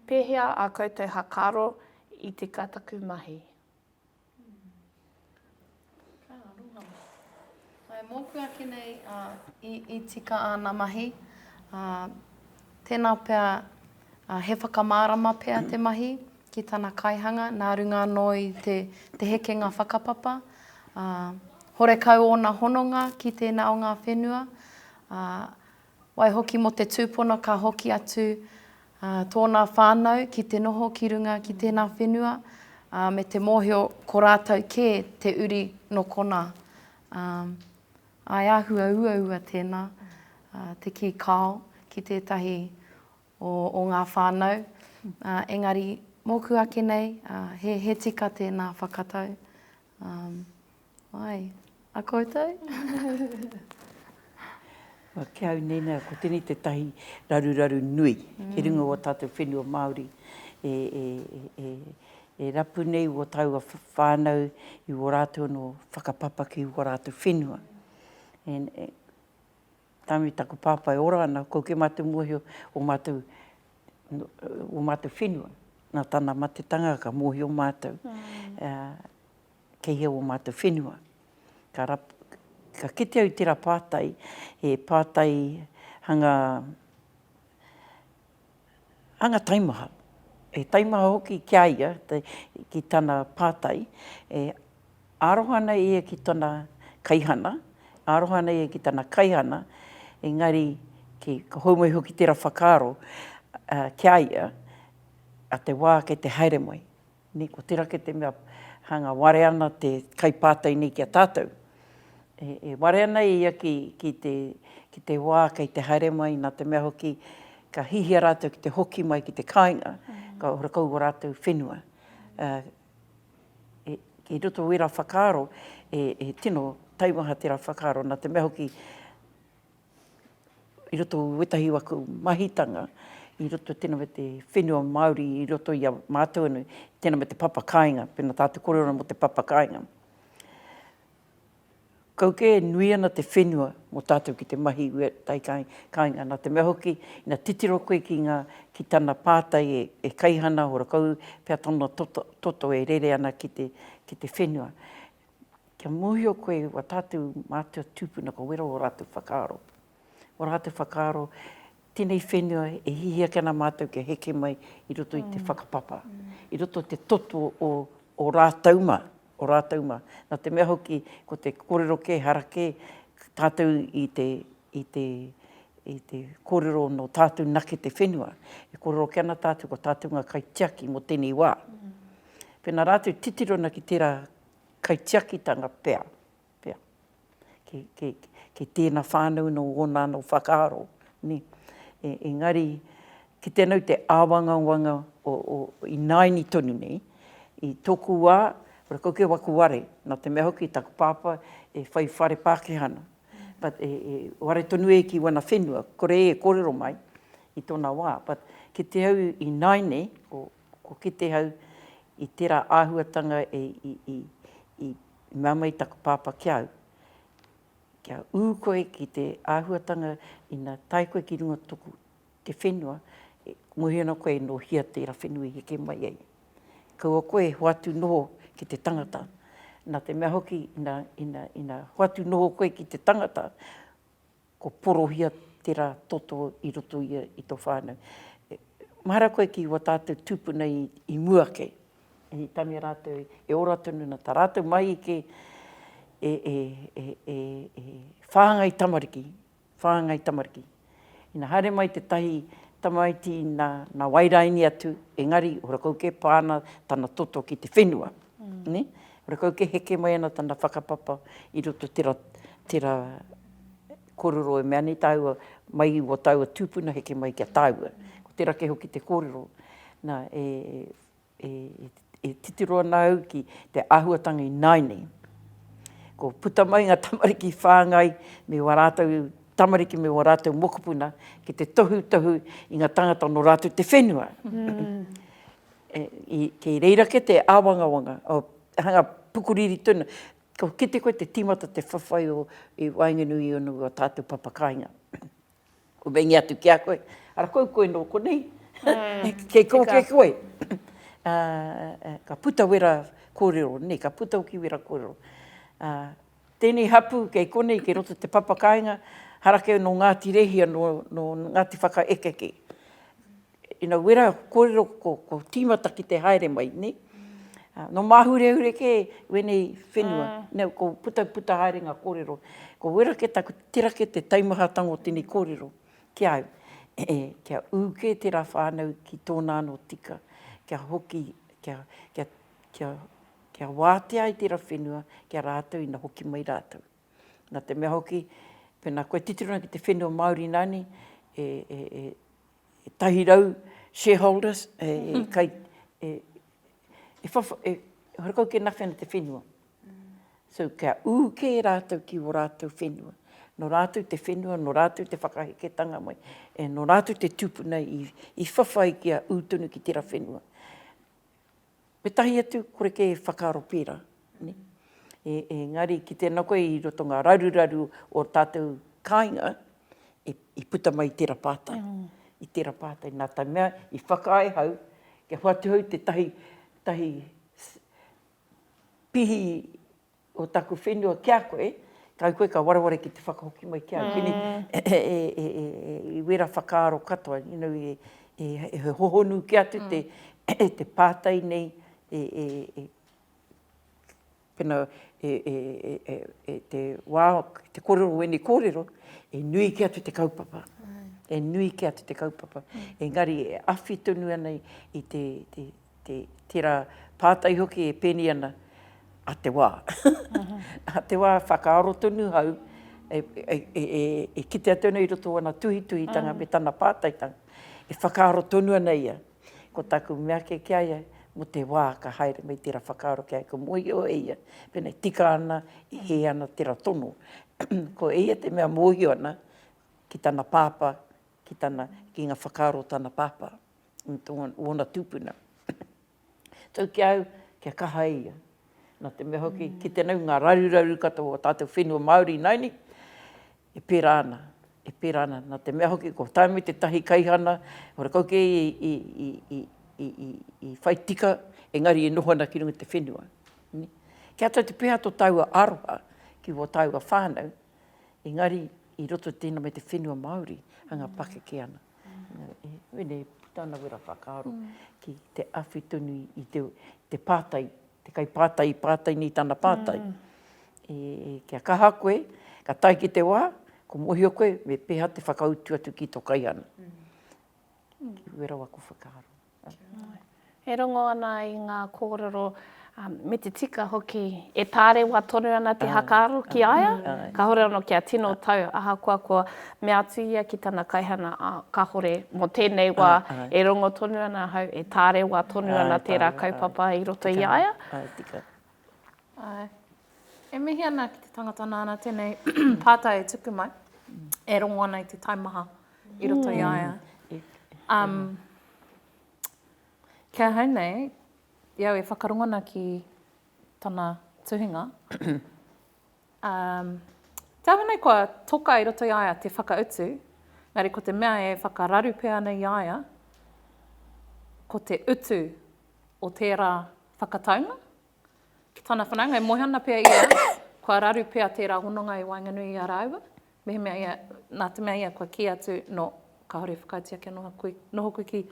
Pēhea ā koutou hakaaro i tika taku mahi? Ka aroha. Ae, mōku ake nei i tika āna mahi. Tēnā pea, he whakamārama pea te mahi ki tana kaihanga nā runga anō i te hekenga whakapapa. Horekau ōna hononga ki tēnā o ngā whenua. Waihoki mō te tūpono ka hoki atu tōnā whānau ki te noho ki runga ki tēnā whenua, me te mōhio ko rātou kē te uri nō konā. I āhua uaua tēnā te kī kāo ki tētahi o ngā whānau, engari mōku ake nei he tika tēnā whakatau Um, wai, a koutou? Wa, ki au nēnā, ko tēnei tētahi raruraru nui mm. ki runga o tātou whenua Māori e, e, e, e, e rapu nei o taua whānau i o rātou no whakapapa ki o rātou whenua. And, e, Tangi taku papa e ora ana, ko ke matu mohio o matou o matou whenua, na tana matetanga ka mohio matou kei hea o matou whenua. Ka rap, ka kite au tera patai, he patai hanga hanga taimaha, he taimaha hoki ki a ia, ki tana pātai, e aroha ana ia ki tana kaihana, e aroha ana ia ki tana kaihana, engari ka hou mai hoki tērā whakaaro ki a ia, a te wā kei te haere mai. Nei ko tera ke te mea hanga ware ana te kai patai nei ki a tatou. E ware ana e ia ki ki te ki te wa kei te haere mai na te mea hoki ka hihia ratou ki te hoki mai ki te kainga ka ora kau o ratou whenua. I roto wera whakaaro e tino taimaha tera whakaaro na te mea hoki i roto i wetahi o aku mahitanga i roto tena me te whenua Maori i roto ia matou anu tena me te papa kainga pena ta te kore ona mo te papa kainga kau ke nui ana te whenua mo tatou ki te mahi i wetahi kainga na te mea hoki na titiro koe ki nga ki tana patai e kaihana ora kau pea tana toto e rere ana ki te whenua. kia mōhio koe wā tātou mātua tūpuna ka wera ō rātou whakaaro. Ō rātou whakaaro, tēnei whenua e hihi ake ana mātou kia heke mai i roto i te whakapapa, i roto i te toto o ō rātou mā, ō rātou mā. Nā te mea hoki, ko te kōrero kē, hara kē, tātou i te, i te, i te kōrero nō tātou nake te whenua. E kōrero ake ana tātou ko tātou ngā kaitiaki mō tēnei wā. Pēnā rātou titiro ana ki tērā kaitiakitanga pea, pea, ki, ki, ki tēna whānau nō ōna anō whakaaro, nē. E, engari, ki te nau te āwangawanga o, o, i nāini tonu nei, i tōku wā, kore kau kei waku ware, nā te mea hoki taku pāpā e whai whare Pākehā ana, but e, e ware tonu e ki wana whenua, kore e kōrero mai i tōna wā, but ki te au i nāi nei, ko. Ko Kitehau, i tera ahuatanga i mea mai taku papa ki au, kia u koe ki te ahuatanga ina tae koe ki runga toku te whenua, ngohe ana koe no hia tera whenua i heke mai ai. Kaua koe e hoatu noho ki te tangata. Na te mea hoki ina hoatu noho koe ki te tangata, Ko porohia tera toto i roto ia i to whanau. Mahara koe ki wa tatou tupuna i mua ke. I tania ratou e ora tonu na ta ratou mahi ke e e e e e whangai tamariki, whangai tamariki. Ina haere mai tetahi tamaiti na na wairaini atu engari ora kau ke pa ana tana toto ki te whenua. Ne? Ora kau ke heke mai ana tana whakapapa i roto tera tera Korero e mea nei tāua, mai i ua tāua tūpuna heke mai ki a tāua. Ko tērā kē hoki te kōrero. Nā, e, e, e titiro ana au ki te āhuatanga i nāianei. Ko puta mai ngā tamariki whāngai me wā rātou tamariki me wā rātou mokopuna ki te tohutohu i ngā tangata nō rātou te whenua. Mm. e, i, kei reira ke te āwangawanga, o, hanga pukuriri tonu, Kua kite koe te timata te whawhai o i waenganui i unu o tatou papakainga. Kua meingia atu ki a koe, ara kou koe no konei, kei ko kei koe. Ka puta wera korero nei, ka puta hoki wera korero. Tenei hapu kei konei kei roto te papakainga, harakeu no Ngati Rehia no Ngati Whakaekeke. Ina wera korero ko ko timata ki te haere mai ne. No mahurehure ke wenei whenua ne ko puta puta haere nga korero. Ko wera ke taku tira ke te taumahatanga o tenei korero ki au e kia u ke tera whanau ki tona ano tika kia hoki kia kia kia kia watea ai tera whenua kia ratou ina hoki mai ratou. Na te mea hoki pena koe titiro ana ki te whenua Maori nane e e e tahi rau shareholders e kai e e wha e hore kau ke nawhi ana te whenua. So kia ū kē rātou ki wō rātou whenua. Nō rātou te whenua, nō rātou te whakaheketanga mai, e nō rātou te tūpuna i i whawhai kia ū tonu ki tērā whenua. Me tahi atu, kore kē e whakaaro pērā. Engari, ki tēnā koe i roto ngā raruraru o tātou kāinga, i puta mai i tērā pātai, i tērā pātai, nā tae mea i whakaae hau, kia hoatu hau tētahi pihi Ko taku whenua ki a koe, kai koe ka wareware ki te whakahoki mai ki au, kini i wera whakaaro katoa, you know, he hohonu kē atu te pātai nei e te wā, te kōrero o ēnei kōrero, e nui kē atu te kaupapa, e nui kē atu te kaupapa, engari e awhi tonu ana i te te tera pātai hoki e pēnei ana, a te wā. A te wā whakaaro tonu hau e kite atu ana i roto o ana tuhituhitanga me tana pātaitanga, e whakaaro tonu ana ia. Ko taku mea kē ki a ia, mo te wā ka haere mai tera whakaaro ki a ia, ka mōhio e ia pēnei tika ana, e hē ana tera tono. Ko eia te mea mōhio ana ki tana pāpā, ki tana, ki nga whakaaro o tana pāpā. ōna tūpuna. Tau ki a au, kia kaha e ia. Nā te mea hoki, ki te nau ngā raruraru katoa o tātou whenua Māori nai ni, e pērā ana, e pērā ana. Nā te mea hoki, ko Tāmi tētahi kaihana, ora kau kē i whai tika, engari e noho ana ki runga i te whenua. Kia tau te peha tō tāua aroha ki wō tāua whānau, engari i roto i tēnā me te whenua Māori, hanga pakeke ana. Mēnei puta ana wera whakaaro ki te awhi tonu i te pātai, te kaipātai i pātai nei tana pātai, kia kaha koe, ka tae ki te wā, ka mōhio koe me pēhā te whakautu atu ki tō kaihana. Wera wako whakaaro. E rongo ana i ngā kōrero, me te tika hoki, e tārewa tonu ana te hakaaro ki a ia, kāore anō kia tino tau, ahakoa kua mea atu ia ki tana kaihana, ā, kāore mō tēnei wā e rongo tonu ana ahau, e tārewa tonu ana tērā kaupapa i roto i a ia. Āe. E mihi ana ki te tangata nāna tēnei pātai e tuku mai, e rongo ana i te taimaha i roto i a ia. Um, ki ahau nei, i au e whakarongo ana ki tana tuhinga, um, te aha nei kua toka i roto i a ia te whakautu, engari ko te mea e whakararu pea ana i a ia, ko te utu o tērā whakataunga ki tana whanaunga, e moe ana pea ia, kua raru pea tērā hononga i waenganui i a rāua, mehemea ia, nā te mea ia kua kī atu, nō, kāore i whakaaetia kia noho koe, noho koe ki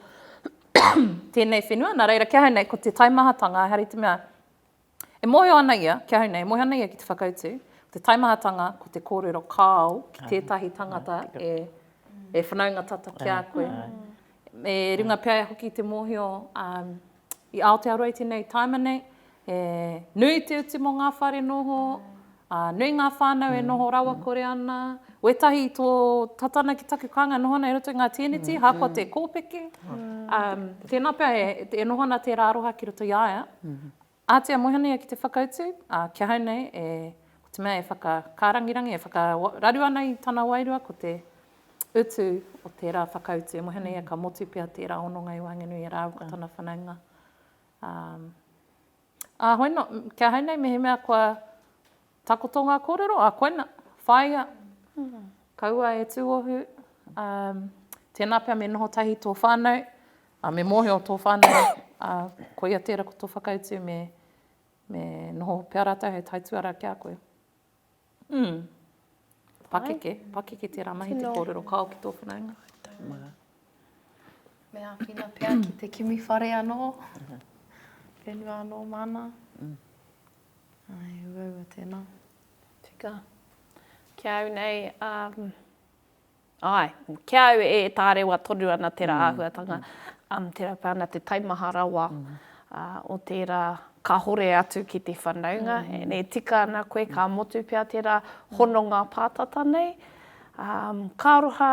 tēnei whenua, nā reira, ki ahau nei, ko te taimahatanga, engari te mea, e mōhio ana ia, ki ahau nei, e mōhio ana ia ki te whakautu, ko te taimahatanga, ko te kōrero kāo ki tētahi tangata e, e whanaunga tata ki a koe. Me runga pea hoki te mōhio, i Aotearoa i tenei taima nei, he nui te utu mo nga whare noho, nui nga whanau e noho rawakore ana, wetahi i to tata ana ki taku kaanga e noho ana i roto i nga teneti, ahakoa te kopeke, tena pea e noho ana tera aroha ki roto i a ia, ahatia e moe ana ia ki te whakautu, a kia hau nei, ko te mea e whakakarangirangi, e whakararu ana i tana wairua ko te utu o tērā whakautu e moe ana ia, ka motu pea tērā hononga i waenganui i rāua ko tana whanaunga. Um, ā, hoi no, ki ahau nei mehemea kua takoto ngā kōrero, ā, koina, whāia, mm. kaua e tūohu, um, tēnā pea me noho tahi tō whānau, a me mōhio tō whānau, a koia tērā ko tō whakautu me, me noho pea rātou hei taituara ki a koe. Mm. Pakeke, pakeke tērā mahi te kōrero kao ki tō whanaunga. Me āwhina pea ki te kimi whare anō, whenua anō māna. Mm. Ai, uaua tēnā. Tika. Ki au nei, um, Āe, ki a au e tārewa tonu ana tērā āhuatanga, tērā pea ana te taimaha rawa o tērā kāhore atu ki te whanaunga, e tika ana koe, ka motu pea tērā hononga pātata nei. Ka aroha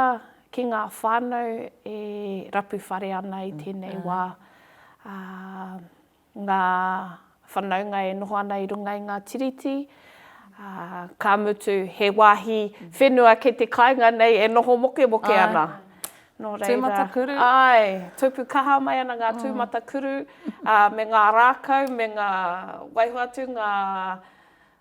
ki ngā whānau e rapu whare ana i tēnei wā. ngā whanaunga e noho ana i runga i ngā tiriti, ā, ka mutu he wāhi whenua kei te kāinga nei e noho mokemoke ana. Nō reira. Tūmatakuru. Āe, tupu kaha mai ana ngā tūmatakuru, ā, me ngā rākau, me ngā, waiho atu ngā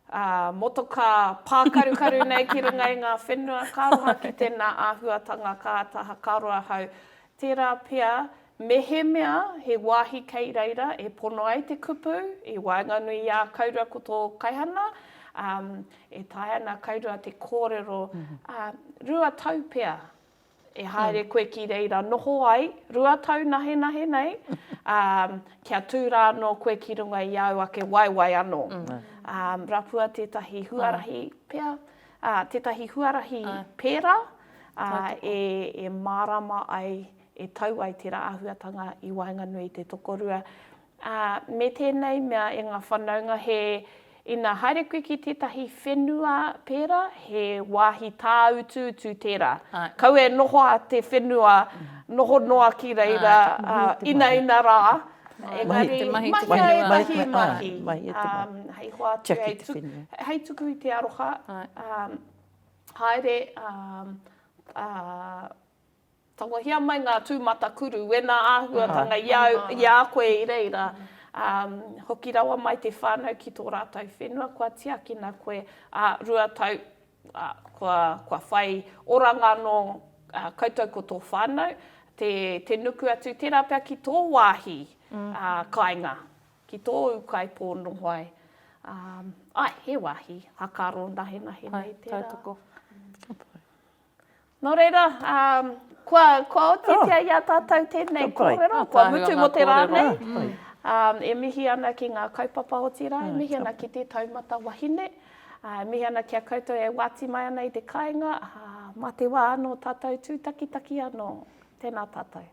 Ā, motokā pākarukaru nei ki runga i ngā whenua ka roa ki tēnā āhuatanga ka āta hakaro ahau. Tērā pea, mehemea he wāhi kei reira e pono ai te kupu i waenganui i a Kaurua ko tō Kaihana, ā, e taea ana Kaurua te kōrero, ā, rua tau pea E haere koe ki reira noho ai, rua tau nahenahe nei, ā, kia tū rā anō koe ki runga i āu ake waewae anō. Ā, rapua tētahi huarahi pea, ā, tētahi huarahi pērā, ā, e, e mārāma ai, e tau ai tērā āhuatanga i waenganui i te tokorua, Ā, me tēnei mea e ngā whanaunga he, ina haere koe ki tētahi whenua pērā, he wāhi tāutuutu tērā. Kaua e noho a te whenua noho noa ki reira, ā, inaina rā, engari, mahia ētahi mahi, ā, hei hoatu, hei tuku, hei tuku i te aroha, ā, haere, ā, ā, Tangohia mai ngā tūmatakuru, wēnā āhuatanga i au, i a koe i reira, ā, hoki rawa mai te whānau ki tō rātou whenua kua tiakina koe, ā, rua tau, ā, kua, kua whai oranga anō koutou ko tō whānau, te, te nuku atu tērā pea ki tō wāhi, ā, kāinga, ki tōu kaipō noho ai. Ā, āe, he wāhi, hakaro nahenahe nei tērā. Hai, tautoko. Ka pai. Nō reira, kua otitia i a tātou tēnei kōrero, kua mutu mō te rā nei. E mihi ana ki ngā kaupapa otirā, e mihi ana ki te taumata wahine. E mihi ana ki a koutou e wāti mai ana i te kāinga, mā te wā anō tātou tūtakitaki anō. Tēnā tātou.